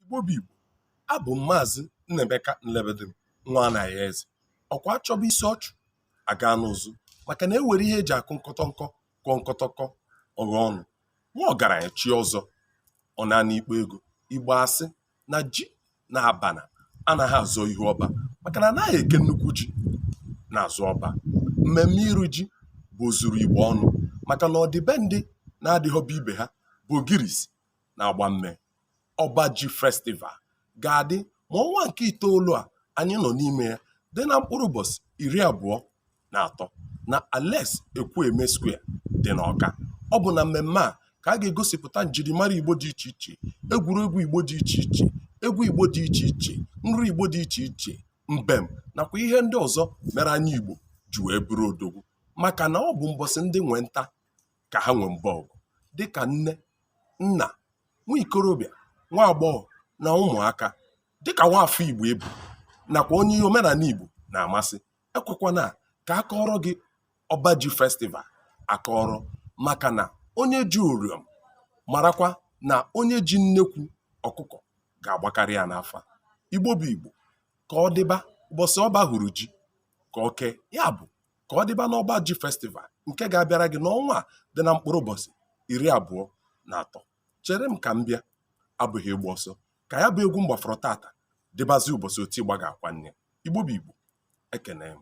igbo bụ igbo abụ m maazị nnaemeka nlebedim nwa anaghị eze ọkwa achọba isi ọchụ aga n'ụzụ maka na ewere ihe eji akụ nkọtọ nkọ kụọ nkọtọkọ ọghọ ọnụ nwa ọgaranya chi ọzọ ọ na-ana ikpo ego igbo asị na ji na abana anaghị azọ ihu ọba maka na anaghị eke nnukwu ji n'azụ ọba mmemme iru ji bụ ozuru igbo ọnụ maka na ọ dị be ndị na-adịghọba ibe ha bụ ogirisi na-agba mme ọba ji festival ga-adị ma ọnwa nke itoolu a anyị nọ n'ime ya dị na mkpụrụ ụbọchị iri abụọ na atọ na Alex Ekwueme Square dị n'Ọka ọ bụ na mmemme a ka a ga-egosipụta njirimara Igbo dị iche iche egwuregwu Igbo dị iche iche egwu Igbo dị iche iche nri Igbo dị iche iche mbem nakwa ihe ndị ọzọ mere anyị Igbo ji wee bụrụ odogwu maka na ọ bụ mbọsị ndị nwe nta ka ha nwee mba ọgụ dịka nne nna nwa ikorobịa nwa agbọghọ na ụmụaka dịka nwa afọ igbo ị bụ nakwa onye ihe omenala igbo na-amasị ekwekwana ka a kọọrọ gị ọba ji festival akọrọ maka na onye ji uriom marakwa na onye ji nnekwu ọkụkọ ga-agbakarị ya n'afa igbo bụ igbo ka ọ dịba ụbọchị ọba hụrụ ji ka o kee ya bụ ka ọ dịba n'ọba ji festival nke ga-abịara gị n'ọnwa a dị na mkpụrụ ụbọchị iri abụọ na atọ chere m ka m bịa abụghị ịgba ọsọ ka ya bụ egwu m gbafọrọ tata dịbazi ụbọchị oti igba ga-akwa nne igbo bụ igbo ekenee m